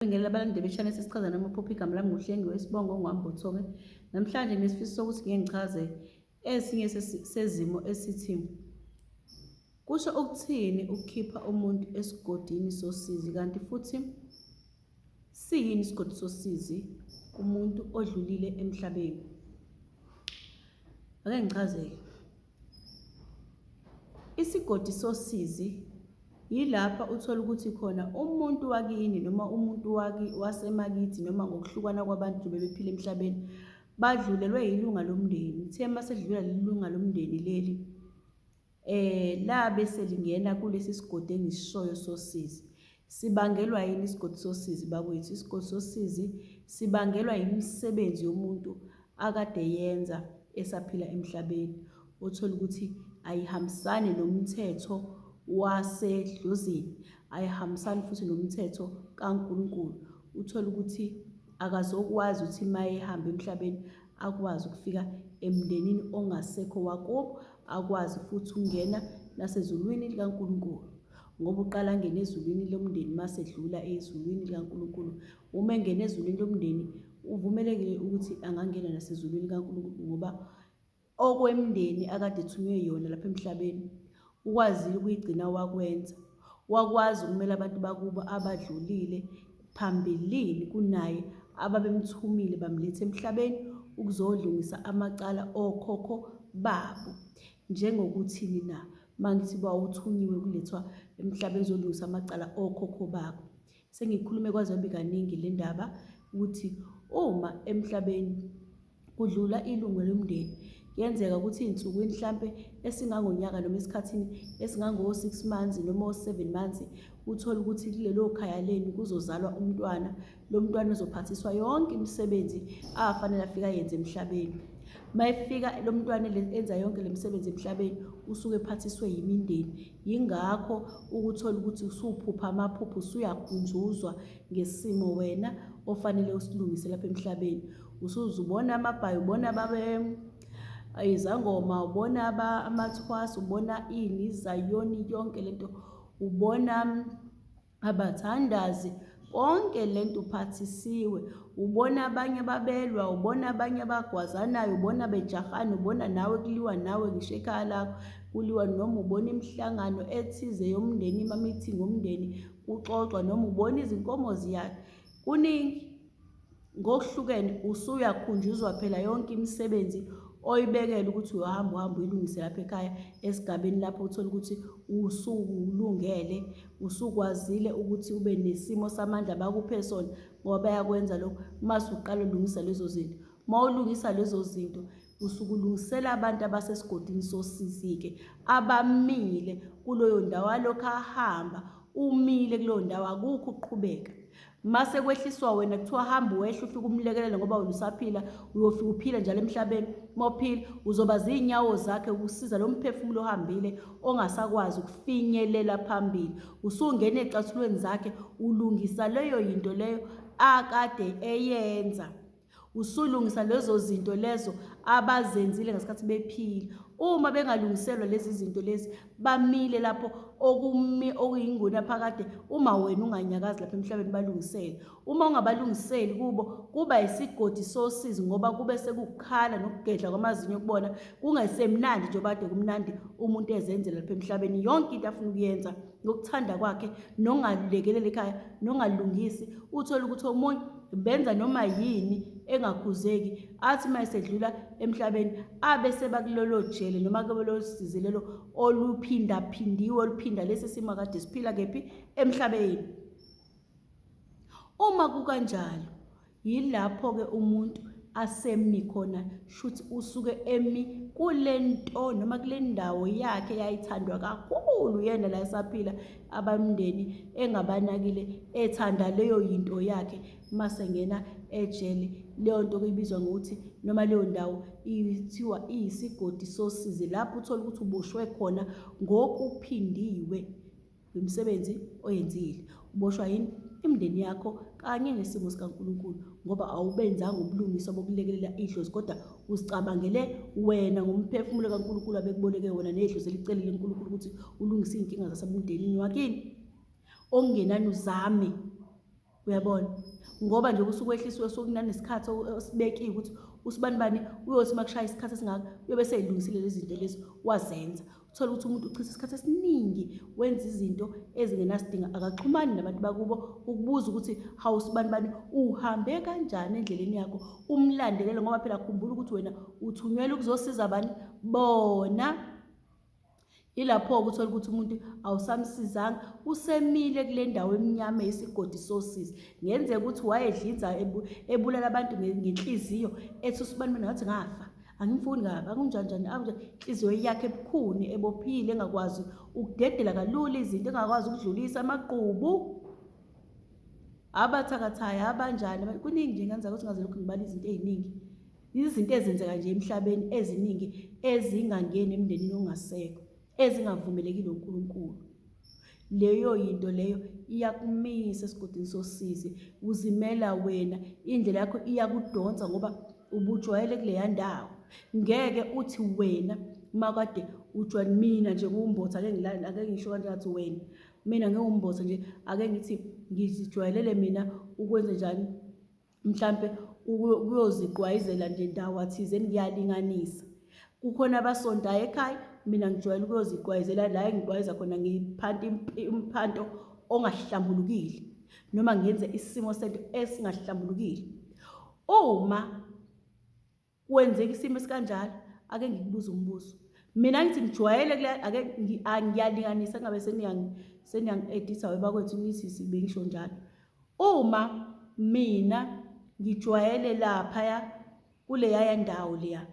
Ngibingelela abalandeli beshanel sesichazana uma uphupha igama lami nguhlengiwe isibongo ongwambothoke namhlanje nesifiso sokuthi ngeke ngichaze esinye sezimo esithi kusho ukuthini ukukhipha umuntu esigodini sosizi kanti futhi siyini isigodi sosizi kumuntu odlulile emhlabeni ake ngichazeke Isigodi sosizi yilapha uthola ukuthi khona umuntu wakini noma umuntu waki wasemakithi noma ngokuhlukana kwabantu bebephila emhlabeni badlulelwe yilunga lomndeni uthe uma sedlula leli lunga lomndeni leli um labe selingena kulesi sigodi engisishoyo sosizi Sibangelwa yini isigodi sosizi bakwethu? Isigodi sosizi sibangelwa yimisebenzi yomuntu akade yenza esaphila emhlabeni othola ukuthi ayihambisani nomthetho wasedlozini ayihambisani futhi nomthetho kaNkulunkulu uthola ukuthi akazokwazi ukuthi uma ehamba emhlabeni akwazi ukufika emndenini ongasekho wakubo akwazi futhi ukungena nasezulwini likaNkulunkulu Ngoba uqala angene ezulwini lomndeni mase edlula ezulwini likaNkulunkulu. Uma engena ezulwini lomndeni uvumelekile ukuthi angangena nasezulwini likaNkulunkulu ngoba okwemndeni akade ethunywe yona lapha emhlabeni ukwazile ukuyigcina wakwenza. Wakwazi ukumela abantu bakubo abadlulile phambilini kunaye ababemthumile bamletha emhlabeni ukuzolungisa amacala okhokho babo. Njengokuthini na? Mangithi wawuthunyiwe kulethwa emhlabeni uzolungisa amacala okhokho bakho. Sengikhulume kwaze kwabi kaningi le ndaba ukuthi uma emhlabeni kudlula ilungu lomndeni kuyenzeka ukuthi iy'nsukwini hlampe esingangonyaka noma esikhathini esingango-six months noma o-seven months uthole ukuthi kulelo khaya lenu kuzozalwa umntwana lo mntwana uzophathiswa yonke imisebenzi afanele afika yenze emhlabeni mayefika lo mntwana enza yonke le misebenzi emhlabeni usuke ephathiswe yimindeni yingakho ukuthola ukuthi usuphupha amaphupho usuyakhunjuzwa ngesimo wena ofanele usilungise lapha emhlabeni usuzubona amabhayi ubona babe izangoma ubona amathwasa ubona ini izayoni yonke lento ubona abathandazi konke lento uphathisiwe ubona abanye babelwa ubona abanye abagwazanayo ubona bejahana ubona nawe kuliwa nawe ngisho ekhaya lakho kuliwa noma ubona imihlangano ethize yomndeni imamithi ngomndeni kuxoxwa noma ubona izinkomo ziyakhe kuningi ngokuhlukene usuyakhunjuzwa phela yonke imisebenzi oyibekele ukuthi uyohamba uhamba uyilungise lapha ekhaya esigabeni lapho uthola ukuthi usukulungele usukwazile ukuthi ube nesimo samandla bakuphe sona ngoba bayakwenza lokho uma usuqala ulungisa lezo zinto uma ulungisa lezo zinto usukulungisela abantu abasesigodini sosisi-ke abamile kuloyo ndawo alokhu ahamba umile kuleyo ndawo akukho ukuqhubeka mase kwehliswa wena kuthiwa hamba wehle ufike umlekelele ngoba wena usaphila uyofika uphile njalo emhlabeni mophile uzoba zinyawo zakhe ukusiza lo mphefumulo ohambile ongasakwazi ukufinyelela phambili usungena ecathulweni zakhe ulungisa leyo yinto leyo akade eyenza Usulungisa lezo zinto lezo abazenzile ngesikhathi bephila. Uma bengalungiselwa lezi zinto lezi, bamile lapho okumi okuyinguna phakade uma wena unganyakazi lapha emhlabeni balungisele. Uma ungabalungiseli kubo kuba isigodi sosizi ngoba kube sekukhala nokugedla kwamazinyo kubona kungesemnandi njengoba kade kumnandi umuntu ezenzela lapha emhlabeni yonke into afuna ukuyenza ngokuthanda kwakhe nongalulekelele ekhaya nongalungisi uthole ukuthi omunye benza noma yini engakhuzeki athi uma esedlula emhlabeni abe sebakulolo jele noma kulolo size lelo oluphindaphindiwe oluphinda lesi simo akade siphila kephi emhlabeni uma kukanjalo yilapho-ke umuntu asemi khona shuthi usuke emi kule nto noma kule ndawo yakhe yayithandwa kakhulu yena la esaphila abamndeni engabanakile ethanda leyo yinto yakhe mase ngena ejele leyo nto kuyibizwa ngokuthi noma leyo ndawo ithiwa iyisigodi sosizi lapho uthola ukuthi uboshwe khona ngokuphindiwe wemisebenzi oyenzile uboshwa yini imndeni yakho kanye nesimo sikaNkulunkulu ngoba awubenzanga ubulungiswa bokulekelela idlozi kodwa uzicabangele wena ngomphefumulo kaNkulunkulu abekuboleke wona nedlozi elicelile uNkulunkulu ukuthi ulungise izinkinga zasebumndenini wakini okungenani uzame uyabona ngoba nje kusuke ehlisiwe sokunani isikhathi osibekiwe ukuthi usibani bani uyothi makushaya isikhathi esingaka uyobe seyilungisile lezi zinto lezi wazenza uthole ukuthi umuntu uchitha isikhathi esiningi wenza izinto ezingenasidingo akaxhumani nabantu bakubo ukubuza ukuthi hawu sibani bani uhambe kanjani endleleni yakho umlandelele ngoba phela khumbula ukuthi wena uthunyelwe ukuzosiza bani bona ilapho-ke uthole ukuthi umuntu awusamsizanga usemile kule ndawo emnyama yesigodi sosizi ngenzeka ukuthi wayedlinza ebulala abantu ngenhliziyo ethi usibani mina ngathi ngafa angimfuni kabi akunjanjani akunje inhliziyo yakhe ebukhuni ebophile engakwazi ukudedela kalula izinto engakwazi ukudlulisa amaqubu abathakathayo abanjani kuningi nje ngenzeka ukuthi ngaze lokhu ngibala izinto eziningi izinto ezenzeka nje emhlabeni eziningi ezingangeni emndenini ongasekho ezingavumelekile uNkulunkulu leyo yinto leyo iyakumisa esigodini sosizi uzimela wena indlela yakho iyakudonsa ngoba ubujwayele kuleya ndawo ngeke uthi wena makade ujwa mina nje kuwumbotha ake ngilale ake ngisho kanje ngathi wena mina ngewumbotha nje ake ngithi ngizijwayelele mina ukwenze njani mhlampe ukuyoziqwayizela nje ndawo athizeni ngiyalinganisa kukhona abasontayo ekhaya mina ngijwayele ukuyoziqwayizela la engiqwayeza khona ngiphanti umphanto ongahlambulukile noma ngenze isimo sento esingahlambulukile uma Kwenzeka isimo esikanjalo ake ngikubuze umbuzo. Mina ngithi ngijwayele kule ake ngiyalinganisa ngabe seniyangi seniyangi editha webakwethu ngithi sibengisho njalo. Uma mina ngijwayele lapha ya kule yaya ndawo leya.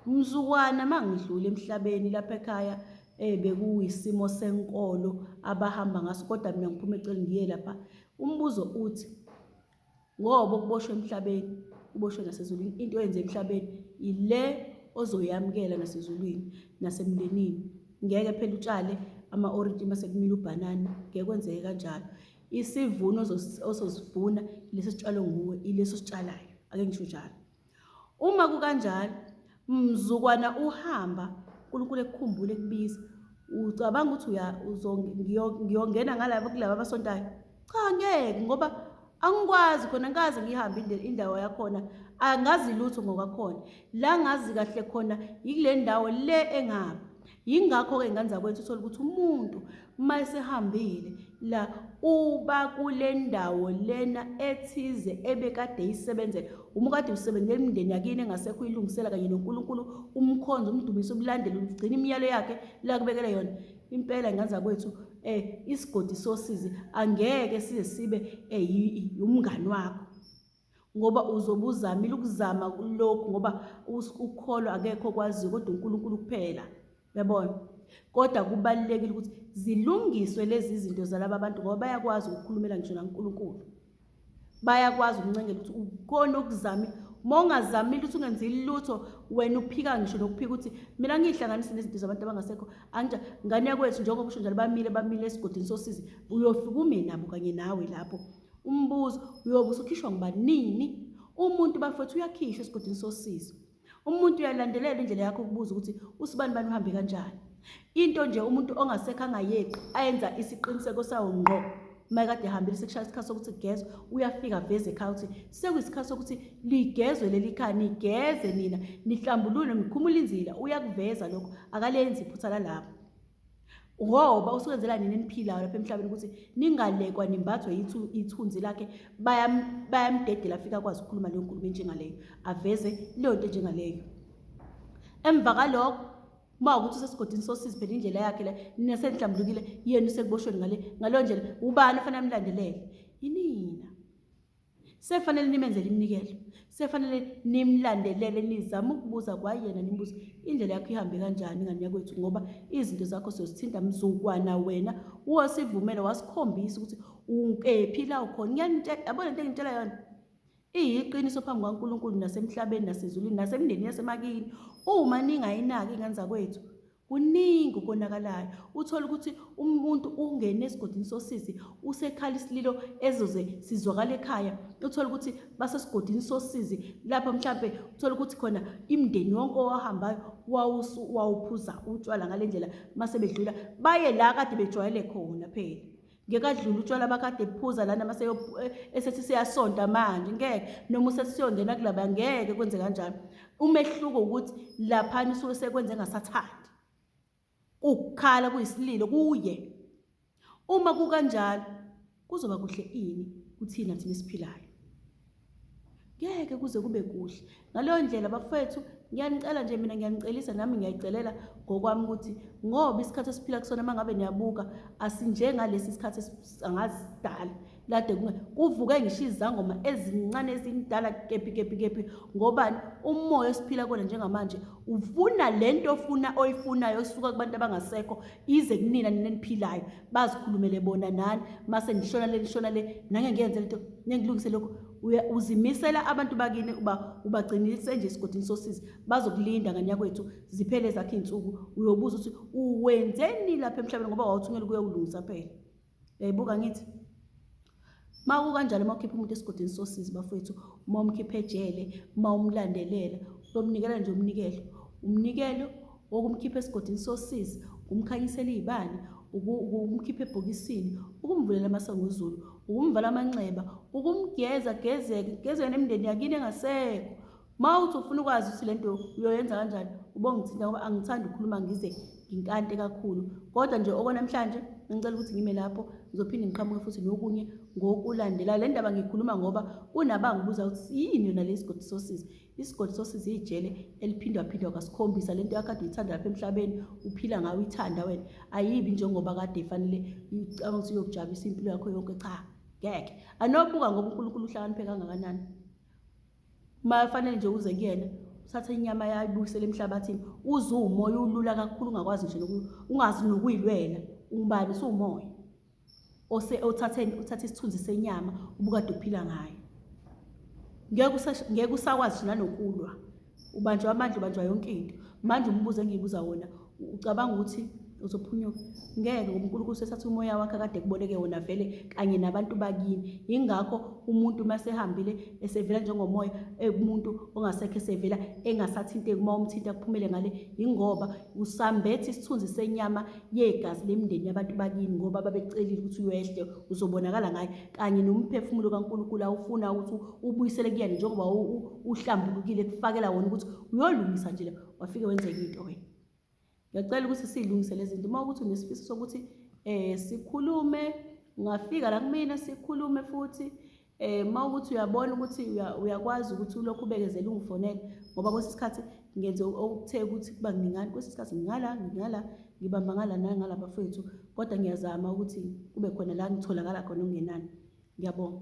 Mzukwana mangidlule emhlabeni lapha ekhaya eh bekuyisimo senkolo abahamba ngaso kodwa mina ngiphuma eceleni ngiye lapha. Umbuzo uthi ngoba okuboshwe emhlabeni kuboshwe nasezulwini into oyenze emhlabeni yile ozoyamukela nasezulwini nasemndenini ngeke phela utshale ama-orintshi uma sekumile ubhanana ngeke kwenzeke kanjalo isivuno ososivuna lesi sitshalo nguwe ileso sitshalayo ake ngisho njalo Uma kukanjalo, mzukwana uhamba, uNkulunkulu ekukhumbule ekubiza. Ucabanga ukuthi ngiyongena ngalaba kulaba abasontayo? Cha, ngeke ngoba angikwazi khona ngikaze ngihambe indawo yakhona angazi lutho ngokwakhona la ngazi kahle khona yikule ndawo le engaba Yingakho-ke ngane zakwethu uthole ukuthi umuntu uma esehambile la uba kule ndawo lena ethize ebekade yisebenzela uma kade usebenzela imindeni yakini engasekho uyilungisela kanye nonkulunkulu umkhonzi umdumisa ubulandela ugcina imiyalo yakhe la kubekele yona impela ngane zakwethu um isigodi sosizi angeke size sibe um umngani wakho ngoba uzobe uzamile ukuzama lokhu ngoba ukukholwa akekho okwaziyo kodwa uNkulunkulu kuphela yabona kodwa kubalulekile ukuthi zilungiswe lezi zinto zalaba bantu ngoba bayakwazi ukukhulumela ngisho naNkulunkulu bayakwazi ukuncengela ukuthi ukona okuzame uma ungazamile ukuthi ungenzi lutho wena uphika ngisho nokuphika ukuthi mina ngiyihlanganise nezinto zabantu abangasekho anja ngane yakwethu njengoba usho njalo bamile bamile esigodini sosizi uyofika ume nabo kanye nawe lapho Umbuzo, uyobe usukhishwa ngubani nini? Umuntu bafethu uyakhishwa esigodini sosizo. Umuntu uyalandelela indlela yakho ukubuza ukuthi usibani bani uhambe kanjani. Into nje umuntu ongasekho angayeqi ayenza isiqiniseko sawo ngqo makade ehambile sekushaya isikhathi sokuthi kugezwe uyafika veze ekhaya ukuthi sekuyisikhathi sokuthi ligezwe leli khaya nigeze nina nihlambulule nikhumule inzila uyakuveza lokho akalenzi iphutha lalapho ngoba usukwenzela nini eniphilayo lapha emhlabeni ukuthi ningalekwa nimbathwe ithunzi lakhe bayamdedela afike akwazi ukukhuluma leyo nkulumo enjengaleyo aveze leyo nto enjengaleyo emva kalokho uma ukuthi usesigodini sosizi phela indlela yakhe le nesenihlambulukile yenu sekuboshweni ngale ngaleyo ndlela ubani ofanele amlandelele yinina Sefanele nimenzele iminikelo. Sefanele nimlandelele nizama ukubuza kwayena nimbuze indlela yakho ihambe kanjani ngane yakwethu ngoba izinto zakho siyozithinta mzukwana wena wasivumela wasikhombisa ukuthi ukephi la ukhona. Ngiyanitshela yabona into engitshela yona. Iyiqiniso phambi kwaNkulunkulu nasemhlabeni nasezulwini nasemndeni yasemakini. Uma ningayinaki ingane zakwethu Kuningi ukonakalayo uthole ukuthi umuntu ungene esigodini sosisi usekhala isililo ezoze sizwakala ekhaya uthole ukuthi basesigodini sosizi lapho mhlampe uthole ukuthi khona imndeni wonke owahambayo wawuphuza utshwala ngale ndlela mase bedlula baye la kade bejwayele khona phela ngekadlula utshwala bakade buphuza lana mase eh, esethi siyasonta manje ngeke noma usesiyongena kulaba ngeke kwenze kanjalo umehluko ukuthi laphana usuke sekwenze ngasathandi ukukhala kuyisililo kuye uma kukanjalo kuzoba kuhle ini kuthina thina esiphilayo ngeke kuze kube kuhle ngaleyo ndlela bafethu ngiyanicela nje mina ngiyanicelisa nami ngiyayicelela ngokwami ukuthi ngoba isikhathi esiphila kusona uma ngabe niyabuka asinjengalesi sikhathi angasidala lade kuvuke ngisho izangoma ezincane ezindala kephi kephi kephi ngobani umoya esiphila kona njengamanje ufuna le nto ofuna oyifunayo osuka kubantu abangasekho ize kunina nina eniphilayo bazikhulumele bona nani mase nishona le nishona le nange ngiyenze lento ngengilungise lokho uzimisela abantu bakini uba ubagcinise nje esigodini sosizi bazokulinda nganyakwethu ziphele zakhe iy'nsuku uyobuza ukuthi uwenzeni lapha emhlabeni ngoba wawuthungela ukuyokulungisa phela Yayibuka ngithi uma kukanjalo uma ukhipha umuntu esigodini sosizi bafowethu uma umkhipha ejele uma umlandelela uyomnikela nje umnikelo umnikelo wokumkhipha esigodini sosizi ukumkhanyisela iy'bani ukumkhipha ebhokisini ukumvulela amasangozulu ukumvala amanxeba ukumgeza gezeke gezeke nemndeni yakini engasekho Uma uthi ufuna ukwazi ukuthi le nto uyoyenza kanjani ubongithinta ngoba angithandi ukukhuluma ngize nginkante kakhulu kodwa nje okwanamhlanje ngicela ukuthi ngime lapho ngizophinde ngiqhamuke futhi nokunye ngokulandela le ndaba ngikhuluma ngoba kunabangibuza ukuthi yini yona le sigodi sosizi isigodi sosizi iyijele eliphindwaphindwa kasikhombisa le nto yakade uyithanda lapha emhlabeni uphila ngayo uyithanda wena ayibi njengoba kade ifanele ucabanga ukuthi uyokujabisa impilo yakho yonke cha ngeke anobuka ngoba unkulunkulu uhlakaniphe kangakanani uma fanele nje uze kuyena uthathe inyama yayibuyisele emhlabathini uze uwumoya ulula kakhulu ungakwazi nje ungazi nokuyilwela ungubani usuwumoya ose othatheni uthatha isithunzi senyama ubukade uphila ngayo ngeke usakwazi nje nanokulwa ubanjwa amandla ubanjwa yonke into manje umbuzo engiyibuza wona ucabanga ukuthi uzophunyuka ngeke ngoba unkulunkulu sesathi umoya wakhe kade kuboleke wona vele kanye nabantu bakini yingakho umuntu uma sehambile esevela njengomoya ekumuntu ongasekho esevela engasathinteki uma umthinta kuphumele ngale yingoba usambethe isithunzi senyama yegazi lemndeni yabantu bakini ngoba babecelile ukuthi uyehle uzobonakala ngayo kanye nomphefumulo kankulunkulu awufuna ukuthi ubuyisele kuyena njengoba uhlambulukile kufakela wona ukuthi uyolungisa nje wafike wenza enye into wena ngiyacela ukuthi silungise lezi zinto uma ukuthi unesifiso sokuthi um sikhulume ungafika la kumina sikhulume futhi eh uma ukuthi uyabona ukuthi uyakwazi ukuthi ulokhu ubekezele ungifonele ngoba kwesinye isikhathi ngenze okuthe ukuthi kuba ngingani kwesinye isikhathi ngingala ngingala ngibamba ngala nangala bafethu kodwa ngiyazama ukuthi kube khona la ngitholakala khona okungenani ngiyabonga